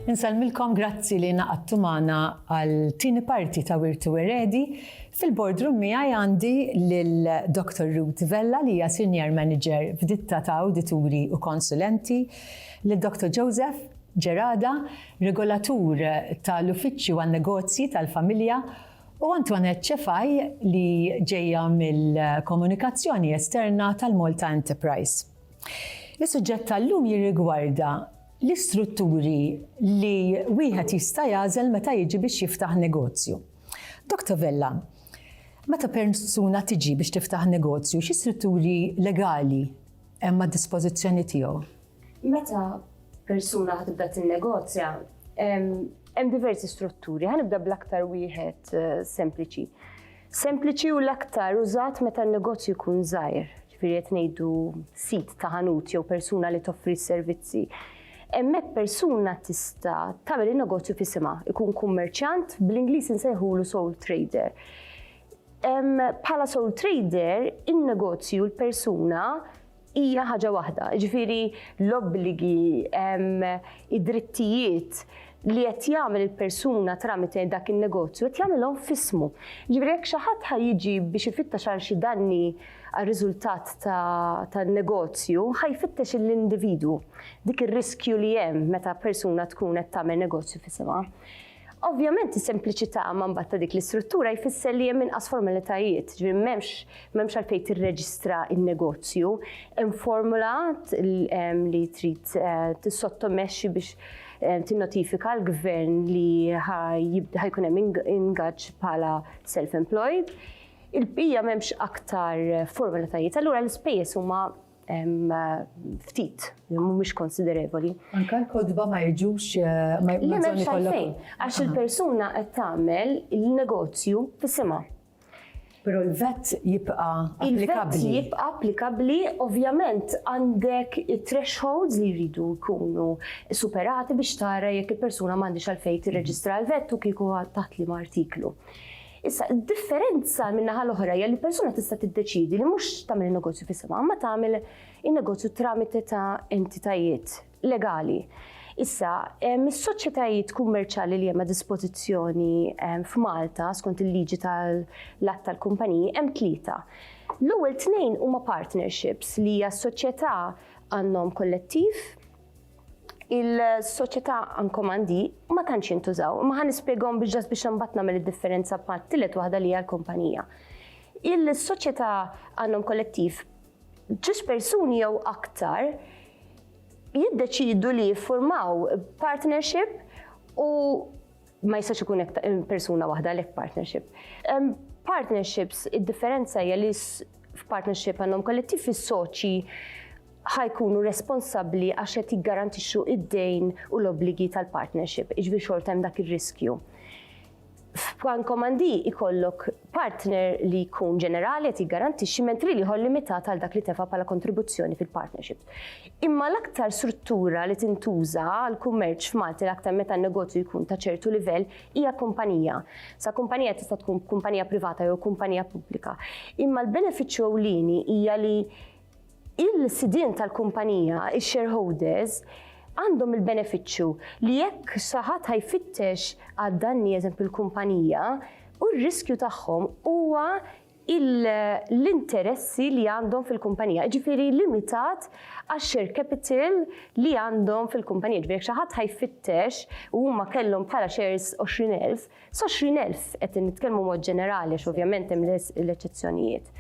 Insellmilkom grazzi li naqadtu magħna għal tieni parti ta' Wirtu Eredi. Fil-boardroom miegħi għandi lil Dr. Ruth Vella li hija Senior Manager f'ditta ta' awdituri u konsulenti, lil Dr. Joseph Gerada, regolatur tal-Uffiċċju għan-Negozji tal-Familja, u Antoinette Cefai li ġejja mill-Komunikazzjoni Esterna tal-Malta Enterprise. Is-suġġett tal-lum jirrigwarda l-istrutturi li wieħed jista' jagħżel meta jiġi biex jiftaħ negozju. Dr. Vella, meta persuna tiġi biex tiftaħ negozju, xi strutturi legali hemm għad-dispożizzjoni tiegħu? Meta persuna ħa tibda tinnegozja, hemm diversi strutturi, ħanibda bl-aktar wieħed eh, sempliċi. Sempliċi u l-aktar użat meta n-negozju jkun żgħir, ġifieri qed ngħidu sit ta' ħanut jew persuna li toffri s-servizzi. Hemmhekk persuna tista' tagħmel in-negozju fisimha, ikun kummerċjant bl-Ingliż insejħulu soul trader. Bħala soul trader, in-negozju l-persuna hija ħaġa waħda, jiġifieri l-obbligi, id-drittijiet li qed jagħmel il-persuna tramite dak in-negozju qed jagħmilhom f'ismu. Ġifieri jekk xi ħadd ħa jiġi biex ifittex għal xi danni għar-riżultat tan-negozju, ħa jfittex l-individwu dik ir-riskju li hemm meta persuna tkun qed tagħmel negozju f'isimha. Ovvjament is-sempliċità ma mbagħad ta' dik l-istruttura jfisser li hemm inqas formalitajiet, ġifieri m'hemmx m'hemmx għalfejn tirreġistra n-negozju, hemm formula li trid eh, tissottomexxi biex eh, tinnotifika l-gvern li ħajkun hemm ingaġġ bħala self-employed il-bija memx aktar formalitajiet, allura l-ispejjeż huma ftit, mhumiex konsiderevoli. Anka l-kodba ma jiġux eh, ma jiġux għalfejn, għax il-persuna qed tagħmel il-negozju fis-sima. Pero l-vet jibqa applikabli. Il-vet jibqa applikabli, ovvjament għandek thresholds li jridu jkunu superati biex tara jekk il-persuna m'għandix għalfejn tirreġistra l-vet u kieku taħt li artiklu. Issa, id-differenza min-naħa l-oħra hija li persuna tista' tiddeċiedi li mhux tagħmel in-negozju f'isimha, imma tagħmel in-negozju tramite ta' entitajiet legali. Issa, mis-soċjetajiet kummerċjali li hemm a dispożizzjoni f'Malta skont il-liġi tal-att tal-kumpaniji hemm tlieta. L-ewwel tnejn huma partnerships li hija soċjetà għandhom kollettiv il-soċjetà ankomandi ma tantx jintużaw, ma ħan nispjegahom biex ġas biex imbagħad nagħmel id-differenza bħal tielet waħda li hija l-kumpanija. Il-soċjetà għandhom kollettiv ġus persuni jew aktar jiddeċidu li jiffurmaw partnership u ma jistax ikun hekk persuna waħda għalhekk partnership. Partnerships, id-differenza hija li f'partnership għandhom kollettiv is-soċi ħajkunu responsabbli għax qed jiggarantixxu id-dejn u l-obbligi tal-partnership, iġbi xort hemm dak ir-riskju. F'plan komandi ikollok partner li jkun ġenerali qed jiggarantixxi mentri li ħol limitat għal dak li tefa' bħala kontribuzzjoni fil-partnership. Imma l-aktar struttura li tintuża għall-kummerċ f'Malta l-aktar meta n-negozju jkun ta' ċertu livell hija kumpanija. Sa kumpanija tista' tkun kumpanija privata jew kumpanija pubblika. Imma l-benefiċċju ewlieni hija li il-sidien tal-kumpanija, ix-shareholders, għandhom il-benefiċċju li jekk xi ħadd ħajfittex għad-danni eżempju l-kumpanija, u r-riskju tagħhom huwa l-interessi li għandhom fil-kumpanija, jiġifieri limitat għax-share capital li għandhom fil-kumpanija. Jiġifieri jekk xi ħadd ħa jfittex u huma kellhom bħala shares 20,000, s-20,000, qed nitkellmu mod ġenerali għax ovvjament hemm l-eċċezzjonijiet.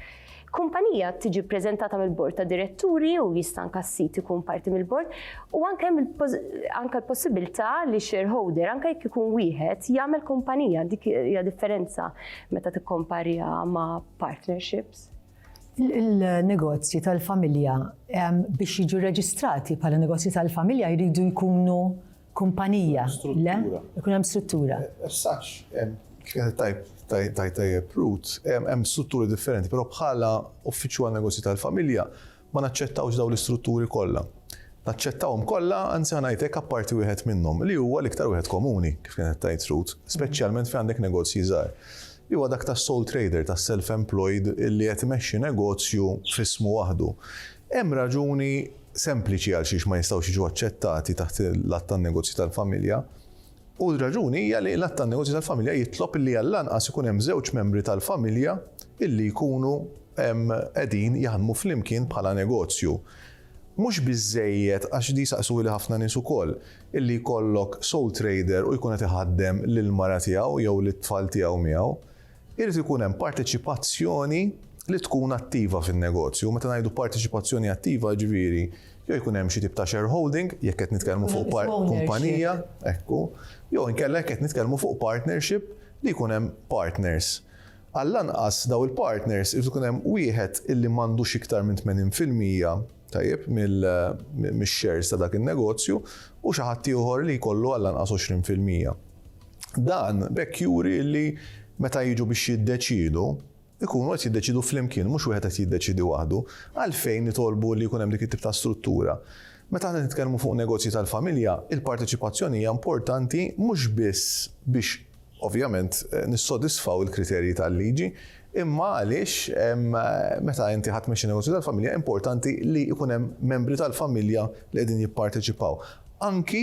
Kumpanija tiġi ppreżentata mill-Bord ta' Diretturi u jista' anke s-sid ikun parti mill-Bord u anke hemm anke l-possibilità li shareholder anke jekk ikun wieħed jagħmel kumpanija, dik hija differenza. meta tikkomparja ma' partnerships? Il-negozji tal-familja biex jiġu reġistrati bħala negozji tal-familja jridu jkunu kumpanija. Le? Ikun hemm struttura. Eh, eh, sax, tajb, tajb, tajb, hemm strutturi differenti, però bħala uffiċċju għal negozji tal-familja, Ma naċċettawx dawn l-istrutturi kollha. Naċċettawhom kollha, anzi ħa ngħid hekk apparti wieħed minnhom, li huwa l-iktar wieħed komuni, kif kienet qed tgħid Ruth, speċjalment fejn għandek negozji żgħar, li huwa dak tas-sole trader, tas-self-employed li qed imexxi negozju f'ismu waħdu. Hemm raġuni sempliċi għalxiex ma jistgħux jiġu aċċettati taħt l-Att tan-Negozji tal-Familja. U r-raġuni hija li l-Att tan-Negozji tal-Familja jitlob illi għall-anqas ikun hemm żewġ membri tal-familja illi jkunu qegħdin jaħdmu flimkien bħala negozju. Mhux biżżejjed, għax di jsaqsuhili ħafna nies ukoll, illi jkollok sole trader u jkun qed iħaddem lill-mara tiegħu jew lit-tfal tiegħu miegħu. Irid ikun hemm parteċipazzjoni li tkun attiva fin-negozju. Meta ngħidu parteċipazzjoni attiva, jiġifieri jew jkun hemm xi tip ta' shareholding, jekk qed nitkellmu fuq kumpanija, ekku, jew inkella jekk qed nitkellmu fuq partnership li jkun hemm partners. Għall-anqas dawn il-partners irid ikun hemm wieħed illi m'għandux iktar minn 80 fil-mija, tajjeb, mix-shares ta' dak in-negozju u xi ħadd ieħor li jkollu għall-anqas 20 fil-mija. Dan b'hekk juri li meta jiġu biex jiddeċiedu, ikunu qed jiddeċiedu flimkien, mhux wieħed qed jiddeċiedi waħdu. Għalfejn nitolbu li jkun hemm dik it-tip ta' struttura? Meta aħna nitkellmu fuq negozji tal-familja, il-parteċipazzjoni hija importanti mhux biss biex ovvjament nissodisfaw il-kriterji tal-liġi, imma għaliex meta inti ħadd tmexxi negozju tal-familja importanti li jkun hemm membri tal-familja li qegħdin jipparteċipaw. Anki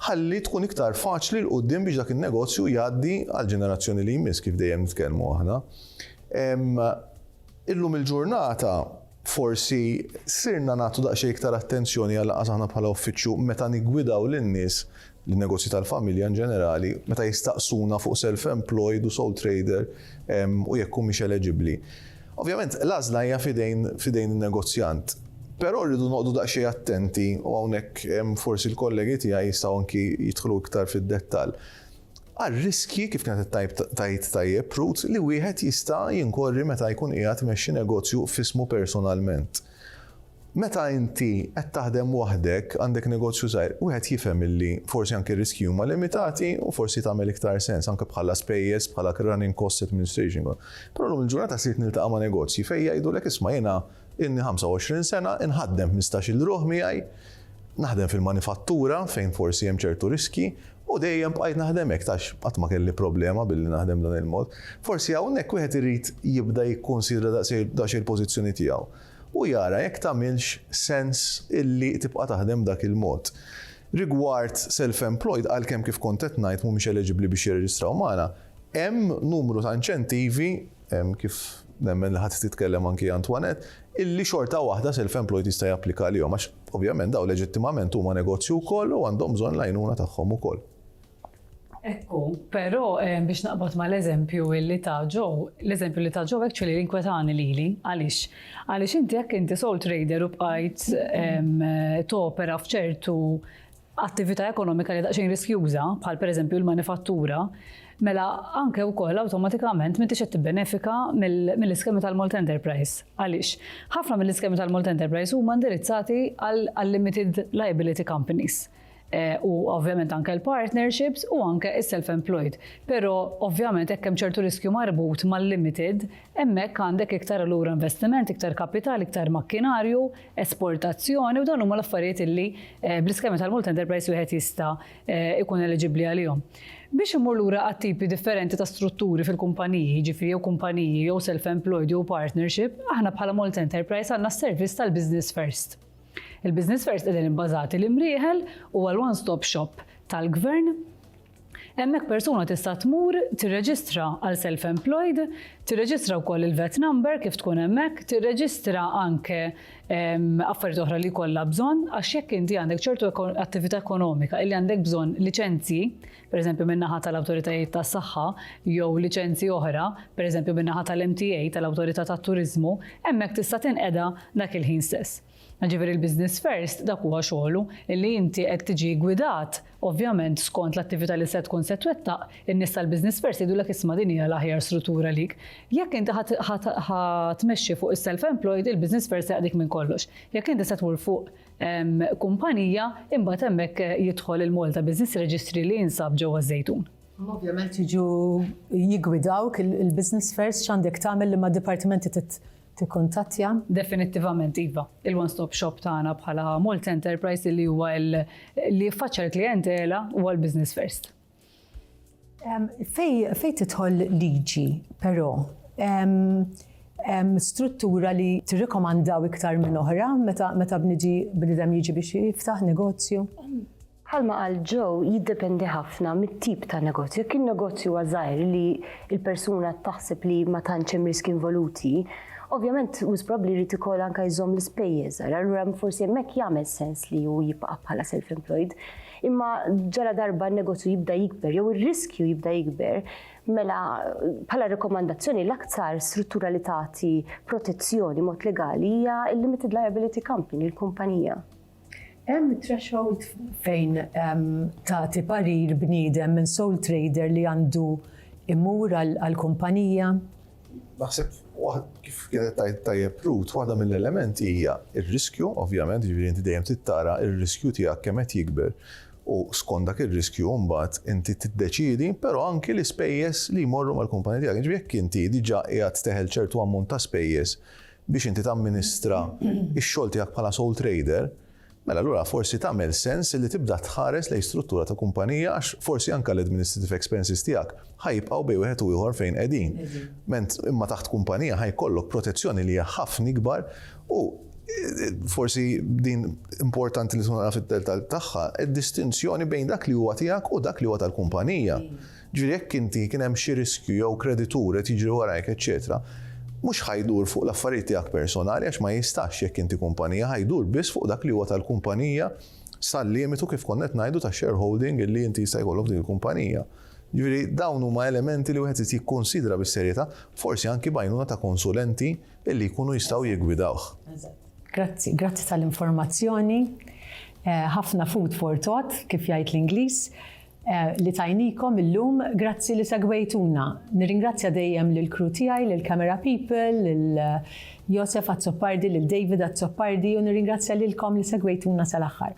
Ħalli tkun iktar faċli 'l quddiem biex dak in-negozju jgħaddi għall-ġenerazzjoni li jmiss, kif dejjem nitkellmu aħna. Illum il-ġurnata forsi sirna nagħtu daqsxejn iktar attenzjoni għal lanqas aħna bħala uffiċċju meta niggwidaw lin-nies, lin-negozji tal-familja in ġenerali, meta jistaqsuna fuq self-employed u sole trader u jekk humiex eleġibbli. Ovvjament, l-għażla hija f'idejn f'idejn in-negozjant. Però rridu noqogħdu daqsxejn attenti u hawnhekk forsi l-kollegi tiegħi jistgħu anki jidħlu iktar fid-dettall, għar-riskji, kif kienet qed tgħid tajjeb Ruth, li wieħed jista' jinkorri meta jkun qiegħed imexxi negozju f'ismu personalment. Meta inti qed taħdem waħdek, għandek negozju żgħir, wieħed jifhem illi forsi anke r-riskji huma limitati u forsi tagħmel iktar sens anke bħala spejjeż, bħala running costs, administration costs. Però llum il-ġurnata ssirt niltaqa' ma' negozji fejn jgħidulek isma' jiena ilni 25 sena, inħaddem ħmistax-il ruħ miegħi, naħdem fil-manifattura fejn forsi hemm ċertu riskji u dejjem bqajt naħdem hekk għax qatt ma kelli problema billi naħdem b'dan il-mod. Forsi hawnhekk wieħed irid jibda jikkunsidra daqsxejn il-pożizzjoni tiegħu. u jara jekk tagħmilx sens illi tibqa' taħdem b'dak il-mod. Rigward self-employed, għalkemm kif kont qed ngħid mhumiex eleġibbli biex jirreġistraw magħna, hemm numru ta' inċentivi, kif nemmen li ħa titkellem anki Antoinette, illi xorta waħda self-employed jista' japplika għalihom għax ovvjament dawn leġittimament huma negozju wkoll u għandhom bżonn l-għajnuna tagħhom ukoll. Ekku. Però biex naqbad mal-eżempju li ta' ġo, l-eżempju li ta' ġo actually inkwetani lili. Għaliex? Għaliex inti jekk inti sole trader u bqajt topera f'ċertu attività ekonomika li daqsxejn riskjuża, bħal pereżempju l-manifattura, mela anke wkoll awtomatikament m'intix qed tibbenefika mill-iskemi tal-Malta Enterprise. Għaliex? Ħafna mill-iskemi tal-Malta Enterprise huma indirizzati għal limited liability companies. Eh, u ovvjament anke l-partnerships u anke is-self-employed. Però ovvjament hekk hemm ċertu riskju marbut mal-limited, hemmhekk għandek iktar allura investiment, iktar kapital, iktar makkinarju, esportazzjoni u dawn huma l-affarijiet illi eh, bl-iskema tal-multi enterprise wieħed jista' eh, ikun eliġibbli għalihom. Biex imur lura għat-tipi differenti ta' strutturi fil-kumpaniji, ġifiri jew kumpaniji jew self-employed jew partnership, aħna bħala multi enterprise għandna s-servizz tal-business first. Il-Business Fairs qegħdin ibbażati l-Imrieħel huwa l-one stop shop tal-Gvern. Hemmhekk persuna tista' tmur tirreġistra għal self-employed, tirreġistra wkoll il-vet number kif tkun hemmhekk, tirreġistra anke ehm, affarijiet oħra li kollha bżonn għax jekk inti għandek ċertu attività ekonomika illi għandek bżonn liċenzji pereżempju min-naħa tal-awtoritajiet tas-saħħa jew liċenzji oħra, pereżempju min-naħa tal-MTA, tal-Awtorità tat-Turiżmu, hemmhekk tista' tinqeda dak il-ħin stess. Ġifieri l-Business First dak huwa xogħlu, illi inti qed tiġi gwidat, ovvjament skont l-attività li se tkun se twettaq, in-nies tal-Business First jgħidulek isma' din hija l-aħjar struttura għalik. Jekk inti ħa tmexxi fuq is-self-employed, il-Business First se jaqdik minn kollox. Jekk inti se tmur fuq kumpanija, imbagħad hemmhekk jidħol il-Malta Business Registry li jinsab ġewwa Żejtun. Ovvjament jiġu jigwidawk il-business fairs x'għandek tagħmel li ma' dipartimenti tikkontattja? Definittivament iva. Il-one-stop shop tagħna bħala Malta Enterprise li huwa li jiffaċċja l-klijentela huwa l-business first. Fej, fej titħol liġi, però, struttura li tirrekomandaw iktar minn oħra meta meta bniġi bnidem jiġi biex jiftaħ negozju? Bħalma għal ġew jiddependi ħafna mit-tip ta' negozju. Kien negozju għażajr li l-persuna taħseb li ma tantx hemm riski involuti, ovvjament wis probabbli jrid ikoll anke jżomm l-ispejjeż, allura forsi hemmhekk jagħmel sens li hu jibqa' bħala self-employed. Imma ġaladarba n-negozju jibda jikber jew ir-riskju jibda jikber, mela bħala rekomandazzjoni l-aktar struttura li tagħti protezzjoni mod legali hija l-limited liability company, il-kumpanija. Hemm threshold fejn tagħti parir bniedem minn sole trader li għandu imur għall-kumpanija? Naħseb kif kienet tajt tajjeb Ruth, waħda mill-elementi hija r-riskju, ovvjament, jiġifieri inti dejjem trid tara r-riskju tiegħek kemm qed jikber u skont dak ir-riskju mbagħad inti tiddeċiedi, però anki l-ispejjeż li jmorru mal-kumpanija tiegħek. Jiġifieri jekk inti diġà qiegħed teħel ċertu ammont ta' spejjeż biex inti tamministra x-xogħol tiegħek bħala sole trader, mela allura forsi tagħmel sens li tibda tħares lejn struttura ta' kumpanija għax forsi anke l-administrative expenses tiegħek ħa jibqgħu bejn wieħed u ieħor fejn qegħdin. Ment imma taħt kumpanija ħa jkollok protezzjoni li hija ħafna ikbar u forsi din importanti li tkun tagħraf id-dettall tagħha, id-distinzjoni bejn dak li huwa tiegħek u dak li huwa tal-kumpanija. Jiġifieri jekk inti kien hemm xi riskju jew kreditur qed jiġri warajk eċċetera, mhux ħa jdur fuq l-affarijiet tiegħek personali għax ma jistax jekk inti kumpanija, ħa jdur biss fuq dak li huwa tal-kumpanija sal-limitu kif konna qed ngħidu ta' shareholding li inti jista' jkollok f'din il-kumpanija. Jiġifieri dawn huma elementi li wieħed irid jikkunsidra bis-serjetà, forsi anki b'għajnuna ta' konsulenti li jkunu jistgħu jiggwidawh. Grazzi, grazzi tal-informazzjoni. Ħafna food for thought, kif jgħid l-Ingliż. li tajnikom illum, grazzi li segwejtuna. Nirringrazzja dejjem lill-crew tiegħi, lill-camera people, lil Josef Azzopardi, lil David Azzopardi u nirringrazzja lilkom li segwejtuna sal-aħħar.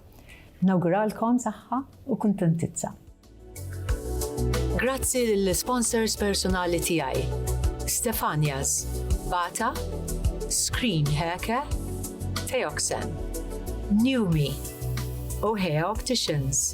Nawguralkom saħħa u kuntentizza. Grazzi lill-sponsors personali tiegħi, Stefania's, Bata, Screen Heke, Theoxen, Newme u Hea Opticians.